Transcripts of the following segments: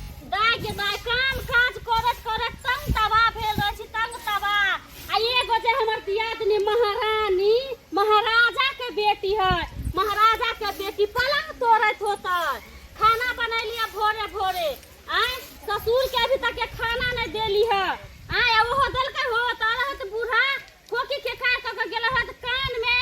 दाय के दाय काम काज करत करत तंग तबा भेल रहै छी तंग तबा आ एगो जे हमर दियादनी महारानी महाराजा के बेटी है महाराजा के बेटी पलंग तोड़त होता खाना बनैलिए भोरे भोरे आय ससुर के अभी तक के खाना नहीं देली है आय ओहो देलकै हो तारा हत बूढ़ा खोकी के खाय क के गेल हत कान में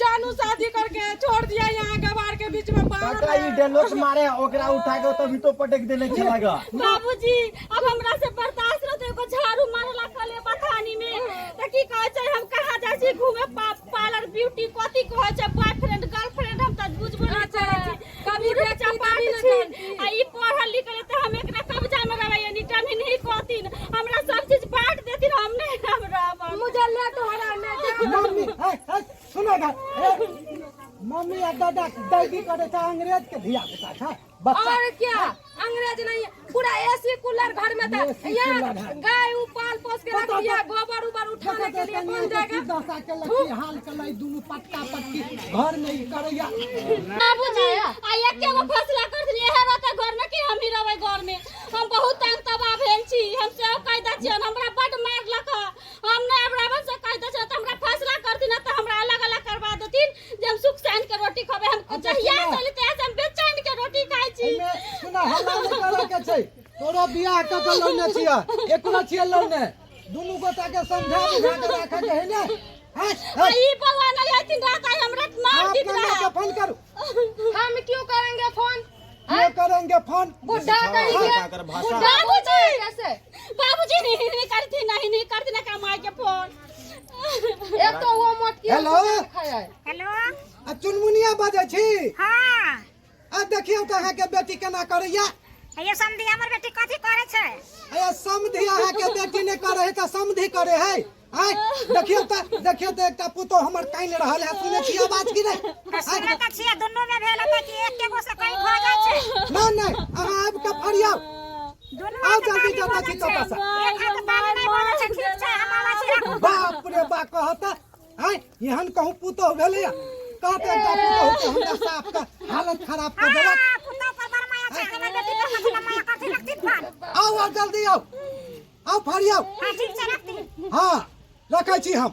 जानू शादी करके छोड़ दिया यहाँ गवार के बीच में बाहर काका ई डेलोस मारे ओकरा उठा के तभी तो पटक देने चला गया बाबूजी अब हमरा से बर्दाश्त रहते एगो झाड़ू मारला कले बथानी में त की कहै छै हम कहाँ जाइ छी घूमे पा- पार्लर ब्यूटी कथी कहै छै बॉयफ्रेंड गर्लफ्रेंड हम त बुझबो नै करै छी कभी देख चपा छी आ ई पढ़ल लिखल है तो हम एकरा कब्जा में रहबै यानी टमी नहीं कहतिन हमरा सब चीज बांट देतिन हम नहीं हम रहब मुझे ले तो हरा ने मम्मी है है सुनो ना मम्मी आ दादा दैदी करे था अंग्रेज के धिया पुता था बच्चा और क्या अंग्रेज नहीं है पूरा एसी कूलर घर में था यहाँ गाय उपाल पोस के रख दिया गोबर उबर उठाने के लिए कौन जाएगा दशा के लड़की हाल के लाई दोनों पट्टा पट्टी घर में ही करैया बाबूजी आ एक एगो फैसला कर लिए है रहता घर में कि हम ही रहबै घर में हम बहुत तंग तबाह भेल छी हम से कहि दै छियन हमरा बड मारलक हँ। हम नहि अब रहबै से कहि दै छियन तऽ हमरा फैसला करथिन नहि तऽ हमरा अलग अलग करबा देथिन जे हम सुख चैन के रोटी खेबै हम अच्छा, जहिया सुनऽ। चली तहिया से हम बेचैन के रोटी खाइ छी एहिमे सुना हल्ला नहि करऽ के छै तोरो बियाह कऽ के लौने छियै एकरो छियै लौने दुनू गोटा के समझा बुझा के राखऽ के है ने हट आ हट ई बौआ नहि हथिन रात आइ हमरा मार आप दैत कन्या रहा के फोन करू हम क्यों करेंगे फोन ये करेंगे फोन बुढ़ा कहीं के बाबूजी कैसे बाबूजी नहीं नहीं करती नहीं नहीं करती ना कमाई के फोन हेलो हेलो आ चुनमुनिया बजै छी हाँ आ देखियौ तऽ अहाँके बेटी केना करैया ये समधी हमर बेटी कथी करे छै अरे समधी अहाँ के बेटी ने करे है त समधी करे है आय देखियो त देखियो त एकटा पुतो हमर काइन रहल है सुने छियै बात की नै सुने त छियै दुनु में भेल त कि एक एगो से कहीं भ जाय छै नै नै अहाँ आब के फरियाउ आउ जल्दी जल्दी छी तोता सा बाप रे बा कहता हैं एहन कहूं पुतो भेलै कहते एकटा पुतो के हमरा साफ के हालत खराब कर देलक आउ आउ जल्दी आउ आउ फरियाउ हाँ रखै छी हम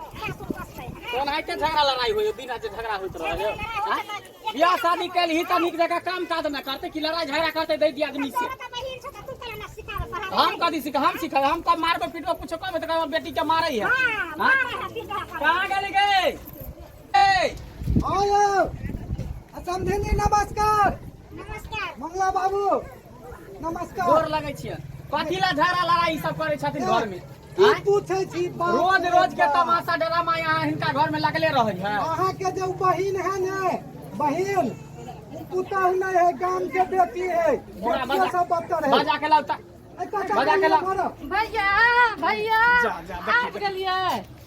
कोन आइ झगड़ा लड़ाई होइए बिना जे झगड़ा होइत रहैए बियाह शादी कल ही तनिक जगह काम काज न करते कि लड़ाई झगड़ा करते दे दिया आदमी से हम कभी सिखा हम सिखा हम तब मारबो पीटबो कुछ कम तो कहबो बेटी के मारे है हां कहां गेली गए ए आयो समझेनी नमस्कार नमस्कार मंगला बाबू नमस्कार गोर लगै छियै कथी ला झगड़ा लड़ाई सब करै छथिन घर में की पूछै छी बाप रोज रे रोज के बाप। तमाशा ड्रामा यहाँ हिनका घर में लगले रहै है अहाँ के जो बहिन है ने बहिन उ पुतहु नहीं है गाम के बेटी है बड़ा बेटियों बजा- से बदतर है बाजा के लाउता ऐ काका बजा के ला- मारो। भैया भैया जा, जा, देखिए, आबि गेलियै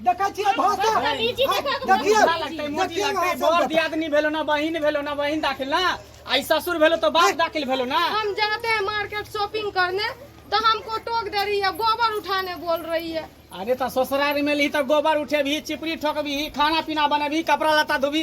देखै छियै भाषा बदतमीजी देखै के देखियौ, कोन भाषा लगतै, मोटी देखियौ लगतै, अहाँ बड़ सब। दियादनी भेलो ना बहिन भेलो ना बहिन दाखिल ना आई ससुर भेलो तो बाप दाखिल भेलो ना हम जाते हैं मार्केट शॉपिंग करने तो हमको टोक दे रही है गोबर उठाने बोल रही है अरे तो ससुराल में ली तो गोबर उठेबी चिपरी ठोकबी खाना पीना बनेबी कपड़ा लत्ता धोबी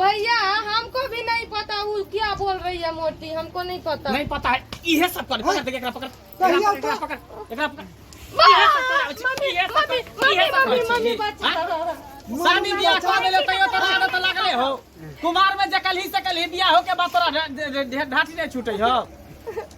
भैया हमको भी नहीं पता वो क्या बोल रही है मोटी हमको नहीं पता नहीं पता है ये सब कर पकड़ एकरा पकड़ एकरा पकड़ पकड़ एकरा पकड़ मम्मी मम्मी मम्मी बच्चा शादी बियाह कर ले तैयो तोरा आदत लागले हो कुमार में जकल ही सकल ही बियाह हो के बात तोरा ढाठी नहीं छूटे हो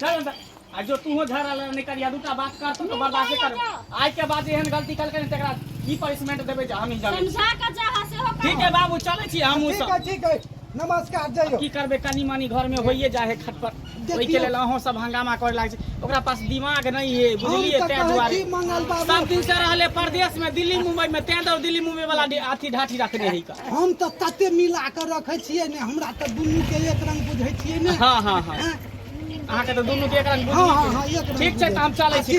चल अंदर आ जो तू हो झगड़ा लड़ नहीं करिया दूटा बात कर तू तो बर्दाश्त कर आज के बाद एहन गलती कल कर तेरा ई पनिशमेंट देबे जा हम ही जाने समझा के जा हसे हो ठीक है बाबू चले छी हम ठीक सब है ठीक है नमस्कार जइयो की करबे कनी मनी घर में होइए जा है खटपट देखियो। ओई के लेल अहो सब हंगामा करे लाग छै ओकरा पास दिमाग नहीं है बुझलिए हम तऽ तै कहै दुआरे छी मंगल बाबू। सब दिन से रहले परदेश में दिल्ली मुंबई में तै दौर दिल्ली मुंबई वाला डे- अथी ढाठी रखने है का हम तऽ तते मिला कऽ रखै छियै ने हमरा तऽ दुनू के एक रंग बुझै छियै ने हँ हँ हँ अहाँके तऽ दुनू के एक रंग हँ हँ हँ एक रंग ठीक छै तऽ हम चलै छी